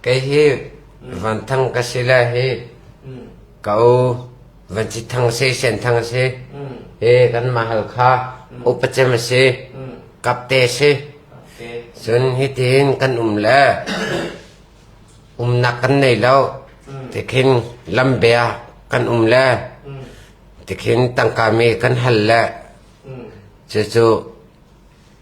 Kei hi Van Thang ka si le hi ka u Van Ci Thang si, Sen Thang si, hi kanmah Halkha upacem a si, kapte si. Cun hitin kan um le umnak kan nei lo. Tikhin lambia kan um le tikhin tangka mi kan hal le cucu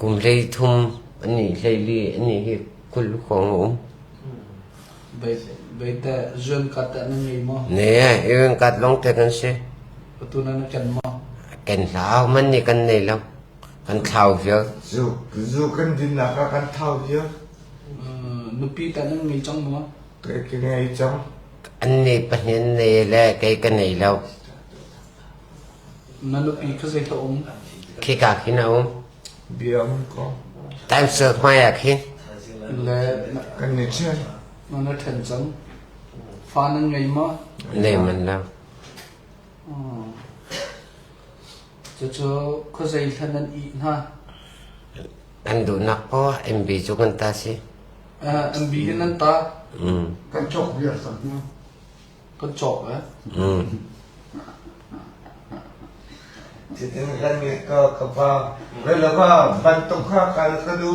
Kum hleithum pahnih hleili anih hi kul hrawng a um. Beite zuankat na ngei maw? Ne, zuankat long te kan si. Patu na ken maw? Ken hlau man ni kan nei lo. Kan thlau viau. Zu zu kan din na ka kan thau viau. Nupi ta na ngei chang maw? Ke ke ngei chang. An ni pahnih an nei le kei ka nei lo. Na nupi kha zei a um? Khika khin a um. Biang ko. Taimsul hmaiah khin. Le kan ni chiai. Na na ṭhen cang. Fa nan ngei ma? Nei man lo. Oh. Cucu khuazei hlan an ih hna? An duhnak paoh MB cu kan ta si. MB in an ta. Kan cawk viar sam hna. Kan cawk eh? Chitin kan nge ka ka pa. Relava bantuk ha kal ka du.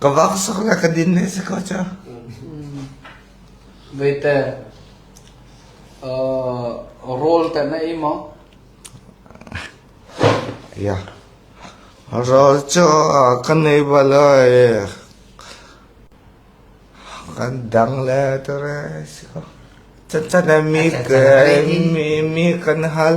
Ka vak sak le ka din ne si ko ca. Veite, rol te na ei mo? Ya. Rol cu kan ei bala kan dang le tu re si ko. Chan chan mi ke mi mi kan hal.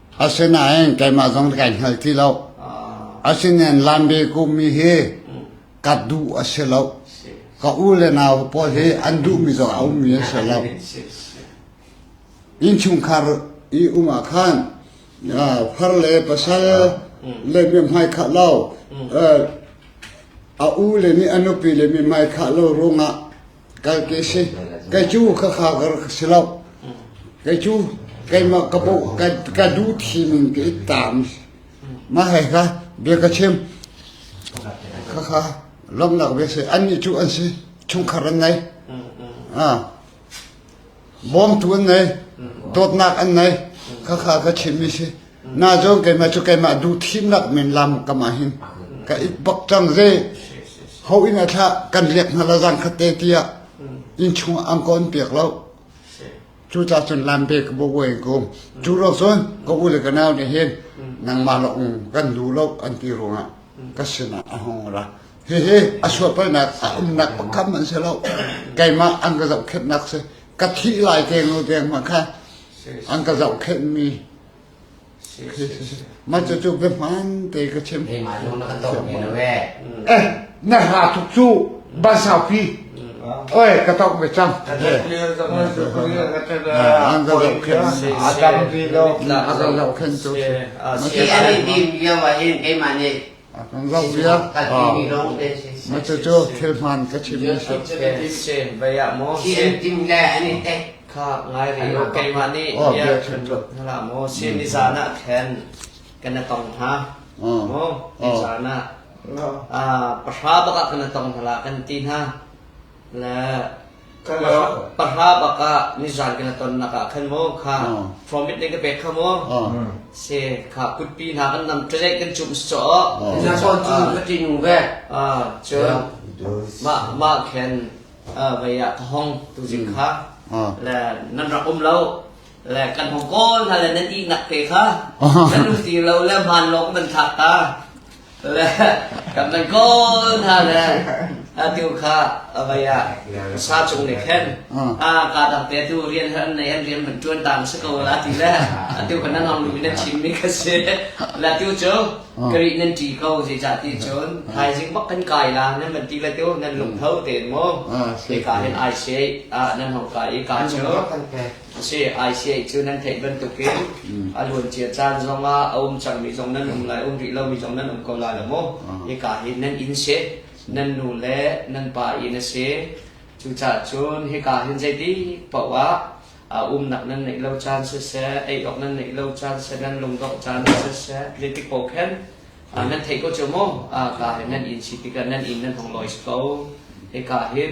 Asinain keimah zong kai hngal ti lo. Asinain Lanbe kumi hi ka duh a si lo. Ka u le nau pawl hi an duhmi zong a ummi a si lo. Innchungkhar i um ah khan far le pasal le mi hmai khah lo a u le nih a nupi le mi hmai khah lo ruangah Kai ke si, kai cu ka kha gar ka si lo. Kai cu keimah ka bo ka ka du thi min ke itam. Ma hai ka bia ka chim. Ka kha lomnak ve se an ni cu an si. Chungkhar an ngei. Ah. Bawmtu an nei, dawtnak an nei, khakha ka chimmi si. Na zawn keimah cu keimah duhthimnak men lam kam ah hin ka it bak cang ze ho in a thlah kan riak hna la zang khatte tiah in chung ang kon piak lo cu ta cun lam pe ka bo wen ko cu ro cun ka u le ka nau nih hin nangmah la ung kan du lo an ti ruangah ka sinah a hong ra Hihi a suahpaihnak a umnak pakam an si lo. Keimah an ka zohkhenhnak si. Ka thih lai te ngo deng ma kha an ka zohkhenhmi ma cu cu biahman te ka chim. Keimah lung na kan tong mi na we. Eh, na ha thuk cu ban saupi. Oi, ka tong be cang. An ka zohkhenhmi. A tam pi lo. A ka zohkhenhmi. Si, a si, a lim lim yo ma hin keimah nih Maca cu thil hmaan ka chimmi si. Sin le an i te. Kha ngai ri u keimah nih bia kan ruat hna la maw sin ni zan ah khan kana tong hna maw ni zan ah pahra bak ah kana tong hna la kan ti hna le kan ram pahra bak ah nizan kan tonnak ah khan maw kha profit ne ka pek kha maw se kha kutpi hna kan nam ṭelek kan cum saw na son cu ka ti nung ve cun mah mah khen vaya ka hong tu jin kha le nan rak um lo le kan hung kawl hna le nan ihnak te kha nan um ti lo le hmaan lawng nan thak ta le kan nan kawl hna le atu kha avei ah sa chung ne khen a ka dang te tu rian har nei an rian man tuan tam se ko la ti le atu kan nan hong lu nan chim mi kha se la tu chu kri nan ti ko ji cha ti chun thai jing bak kan kai la nan man ti la tu nan lung thau ten mo te ka hen ai se a nan hong kai ka chu a si. ICA cu nan theih bantukin a luancia caan zong ah a um cangmi zong nan um lai, um rih lomi zong nan um ko lai lo maw? Hika hi nan inn si, nan nu le nan pa inn a si. Cucahcun hika hin zeitik paoh ah uh, umnak nan neih lo caan siseh, ei awk nan neih lo caan siseh, nan lungdongh caan siseh, zeitik paoh khen uh, nan theih ko cu mu, uh, ka hin nan inn si tikah nan inn nan hong lois ko. Hika hin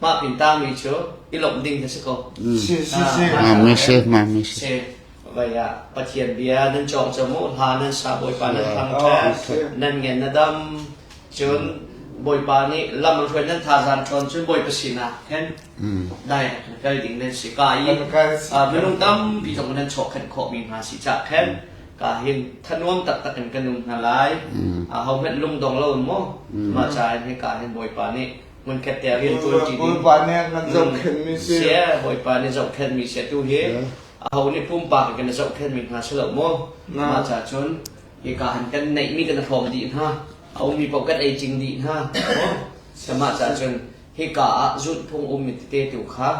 Mah pin tangmi cu i lawmh ding na si ko. Moses, Moses. Si. Vai ah Pathian bia nan cawk cu mu hla nan sa Bawipa nan thang ṭhe nan ngen na dam cun Bawipa nih lam an hruai nan thazan tlawn cun Bawipa sinah khan dai kal ding nan si ka i minung tampi zong nan chawkhenh khawhmi hna si cah khan ka hin thanuam taktak in kan um hna lai ahohmanh lungdong lo maw mah ca in hi ka hin Bawipa nih hmunkhat te ah rian tuanṭi ding. Bawipa nih nan zohkhenhmi si. Sia, Bawipa nih zohkhenhmi sia tu hi aho nih pumpak kan zohkhenhmi hna si lo maw? Mah ca cun hika han kan neihmi kan hrawm dih hna. A ummi paoh kan ei cing dih hna. Mah ca cun hika ah zulhphung um mi tete tu kha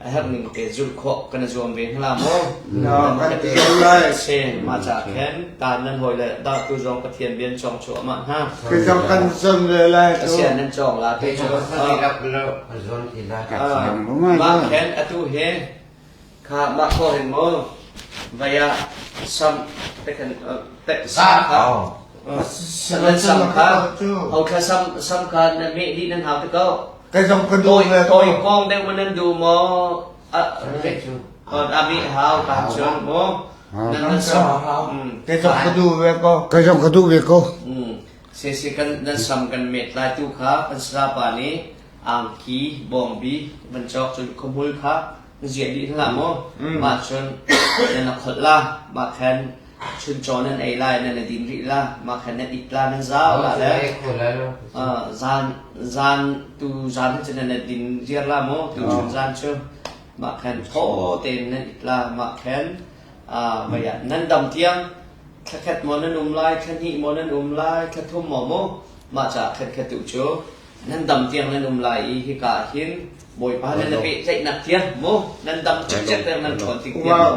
a herhning te zulh khawh kan i zuam ve hna la maw? Na kan ti lo lai. Se, ma ca khen, taan nan hawi le dahtu zong Pathian bian cong cu amah hna. Kita kan zam le lai tu. Asian nan cong la te cu. Mah khen atu he kha mah ko hin mo vaya sam te kan te sam kha san sam kha hau tha sam sam kha na me di nan hau te ko Kai zong ka duh ve tawi kong deuh manan du mo rek cu on abi hau kan chon mo nan sa kai zong ka duh ve ko kai zong ka duh ve ko se se kan nan sam kan met lai tu kha kan sa pa ni angki bombi ban chok chun khumul kha ziadi thla mo ma chun na khol la ma khan Chuncawn an ei lai nan i din rih la mah kha nan it la nan zau la le zan tu zan cu nan din ziar la maw tu chun zan cu mah khan tho tein nan it la mah khan maya ah nan dam tiang thakhat mo nan um lai thlanhi mo nan um lai thlathum mo mo mah ca khan kha tu cu nan dam tiang nan um lai i hika hin Bawipa nih na pehtlaihnak thiang mu nan dam cikcek peng nan ṭhawn tik thiang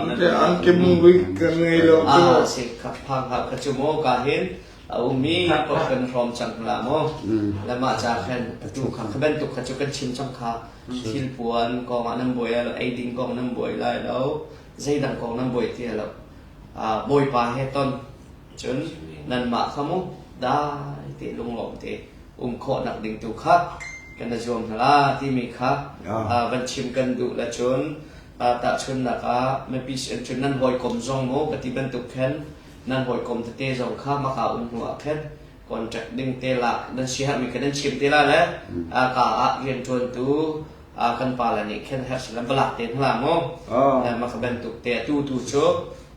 mu te an ke mung rui kan ngei lo cu a se kha phang ha kha chu mu ka hin a umi kop kan hrom chang la mu la ma cha khan tu kha kha ben tuk kha chu kan chim chang kha thil puan kong ah nan buai lo ei ding kong nan buai lai lo zeidang kong nan buai tia lo bawipa he ton Cun nanmah kha mu dai te lunglawm te um khawhnak ding tu kha kan na zuam hna la timi kha van chim kan duh la cun tahchunnak ah mipi sin cun nan hawikom zong mu ka ti bantuk khan nan hawikom tete zong kha maka um hnu ah khan contract ding te la nan si mi ka nan chim te la le ka ah rian tuan tu kan pa la nih khan her silam balak te hla mu maka bantuk te tu tu cu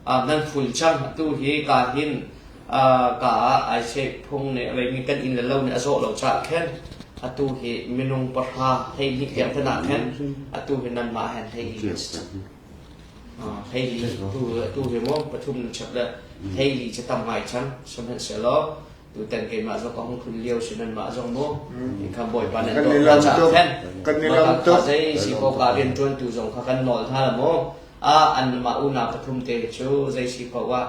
nan khun cang tu hi ka hin ka ah ai chek phung ne vei mi kan in le lo ne a zawh lo cha khen atu hi minung pahra thei ni kiang tana khen atu hi nan ma hen thei ni thei ni tu tu hi mo pathum chep le thei ni che tam ngai chang sum hen se lo Tutan keimah zong ka hung tlun lio si nan mah zong mu. Kan Bawipa nan dawt na ca khen. Kan ni lam tuk. Zei si ko ka rian tuan tu zong kha kan nawl hna la mu. Ah an mah unau pathum te cu zei si ko wa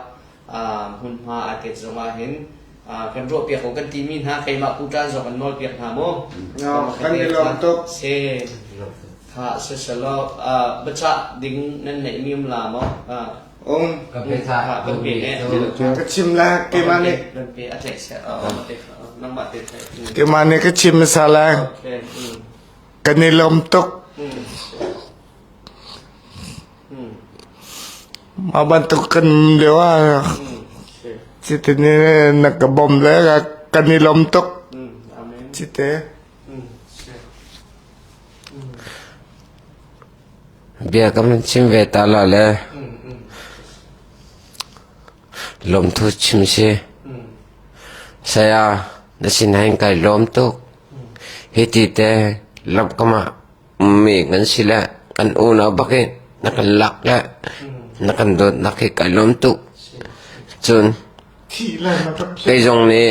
hmun hma a tet zong ah hin kan ruah piak ko kan ti mi hna keimah kutan zong kan nawl piak hna mu. Kan ni lam tuk. Se ha se selo bacha ding nan nei mi um la mo Um. Ka pe ca kan pe ne. Ka chim la keimah nih. Kan pe a tlaih sia. Nang mah te tlaih. Keimah nih ka chim sa la. Kan i lom tuk. Aban tu kan lewa. Cite ni na ka bom le kan i lom tuk. Cite. Bia kan chim ve ta la le lawmthu chim si. Saya, na sinah kai lawm tuk. Hiti te lamkam ah mi kan si le kan unau bakin na kan lak le na kan dawtnak hi kai lawm tuk. Cun, kei zong nih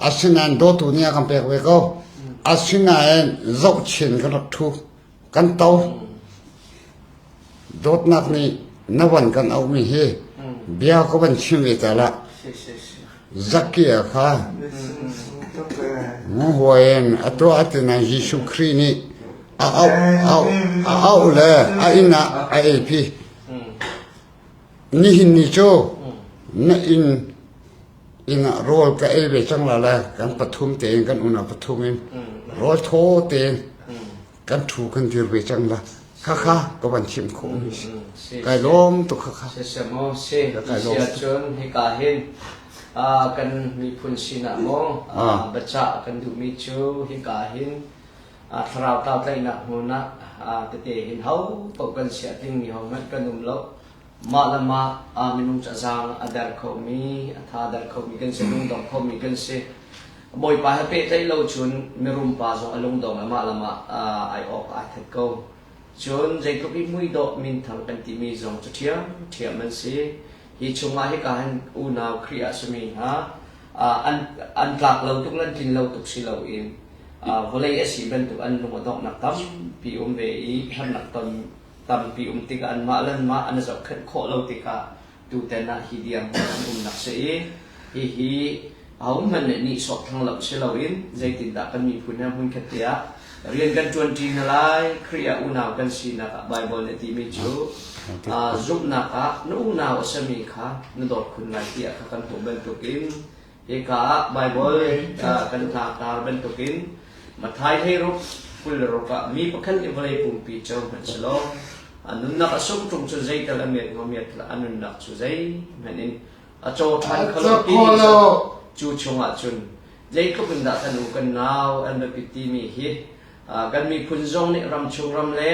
Asinain dawtu nih a kan pek ve ko. Asinain zohchin ka rak thu. Kan to. Dawtnak nih na van kan auhmi hi bia ka van chim ve caah lah zakia kha nguhuain a tuah a tina Jesuh Khrih nih a auh auh a auh le a inn ah a ei pi nihin ni cu na inn Inn ah rawl ka ei ve cang la lai. Kan pathum tein kan unau pathum in rawl thaw tein kan ṭhu kan dir ve cang la. Khakha ka van chimh khawh mi si. Kai lawm tuk khakha. Si si maw si Kai lawm. si ahcun hika hin ah, kan miphun sinah maw Ah. biacah kan duhmi cu hika hin ah, thlarau tlau tlaihnak hmun ah ah, tete hin ho paoh kan siah tling mi ho hmanh kan um lo Mah le mah ah minung cu a zaang a der khomi, a tha der khomi kan si, lungdong khomi kan si. Bawipa he pehtlaih lo cun mirumpa zong a lungdong le mah le mah ai awk aa that ko. Cun zeitluk i muidawh minthang kan timi zong cu ṭhiamṭhiam an si. Hi chungah hika hin unau Khrih ah simi hna an, an tlak lo tuk le an tlin lo tuk si loin vawlei a si bantuk an lung a donghnak tampi um ve i herhnak ton tampi um tikah anmah le anmah an i zohkhenh khawh lo tikah tutan ah hi diang an umnak si i hihi ahohmanh nih nihsawh thlang lo si loin zeitindah kan miphun he hmunkhat tiah rian kan ṭuanṭi hna lai Khrih ah unau kan sinak ah Baibal nih timi cu zumhnak ah na unau a sami kha na dawt khun lai tiah kha kan hmuh bantukin Hika ah Baibal kan tlaktar bantukin Matthai theiruk kul le ruk ah mi pakhat i vawlei pumpi cu hmanhselaw a nunnak a sung ṭung cu zeital a met maw met a nunnak cu zei hmanh in a caw ṭhan kho lo cu chungah cun zeitluk in dah kan u kan nau an biapi timi hi kan miphun zong nih ram chung ram le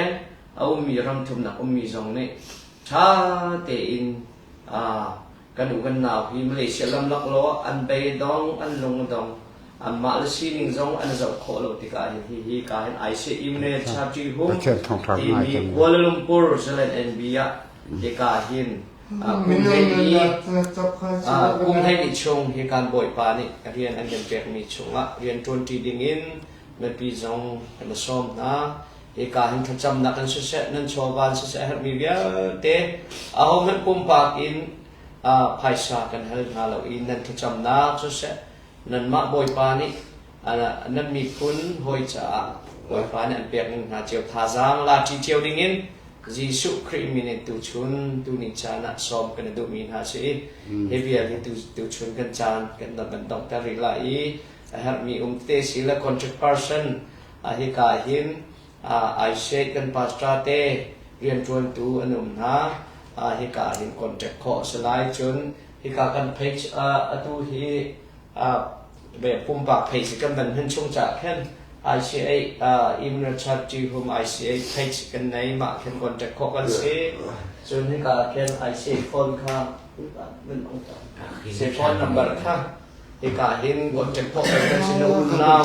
a ummi ram thumnak ummi zong nih ṭha tein kan u kan nau hi Malaysia lamlak law an bei dong an lung dong anmah le sining zong an zoh khawh lo tikah hin hi hi ka hin aise imne charti hum timi Kuala Lumpur Zealand NB ah hi ka hin kum hei ni chung hi kan boi pa nih rian an kan pekmi chungah rian tuanti ding in mipi zong kan sawm hna Hika hin thlacamnak in siseh, nan chawva in siseh a herhmi vialte ahohmanh pumpak in phaisa kan hal hna lo i nan thlacamnak cu seh nanmah Bawipa nih nan miphun hawi caah Bawipa nih an pek ning hna cio thazaang laṭi cio dingin Jesuh Khrih min in tuchun tuni caan ah sawm kan i duhmi hna si i hi vial hi tuchun kan caan kan van donghter rih lai i a herhmi um te si le contract person Hika hin Aishe kan pastor te rianṭuantu an um hna. Hika hin contact khawh a si lai. Cun hika kan page atu hi pumpak page kan van hun chung cah khan ICA Imra Charity Home ICA page kan nei mah khan contact khawh kan si. Cun hika khan ICA phone kha se phone number kha hika hin contact khawh kan si na um now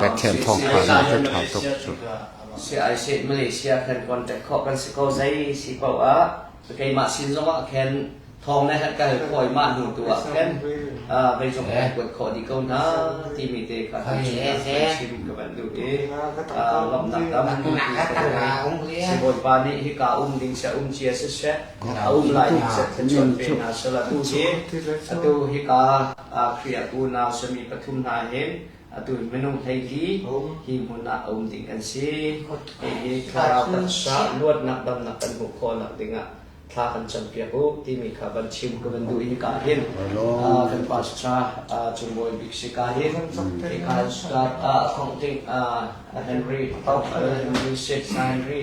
Pathian thawngpang na cu ṭha tuk cu. CIC Malaysia kan contact khawh kan si ko zei si paoh ah keimah sin zong ah khan thawng na herh kal khawi mah hnu tu ah khan vei cung eh kuat khawh dih ko na timi te kha kan chim ka van duh i lomnak tam si bawipa nih hi ka um ding sia um cia si she a um lai hna min cu tu hi atu hika Khrih unau sami pathum hna hin atu minung hleihli hi hmun ah a um ding an si hihi thlarau kan luatnak damnak kan hmuh khawhnak dingah thla kan cam piak u timi kha van chim ka van duh hi ka hin kan pastor cung bawi bik si ka hin hi ka start thong ding Henry Hoffer Henry St. Henry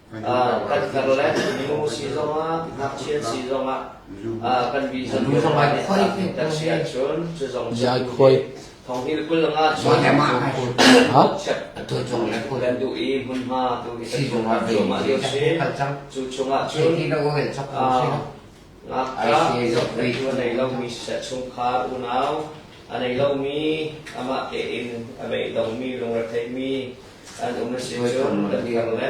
kan Zealand nu si zongah ngakchia si zongah kan mi zong kan si ahcun cu zong thonghil kul nga cun chep kan duh i hmunhma tu i kan chungah lio si cu chungah cun Ngakṭah rianṭuan a ngei lomi siseh, chungkhar unau a nei lomi, amah tein a beidongmi, lungretheimi an um asicun kan diar le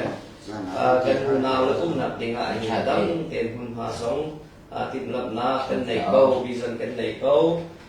kan unau le umnak dingah hi dang tein hmunhma zong timhlamhnak kan nei ko, vision kan nei ko.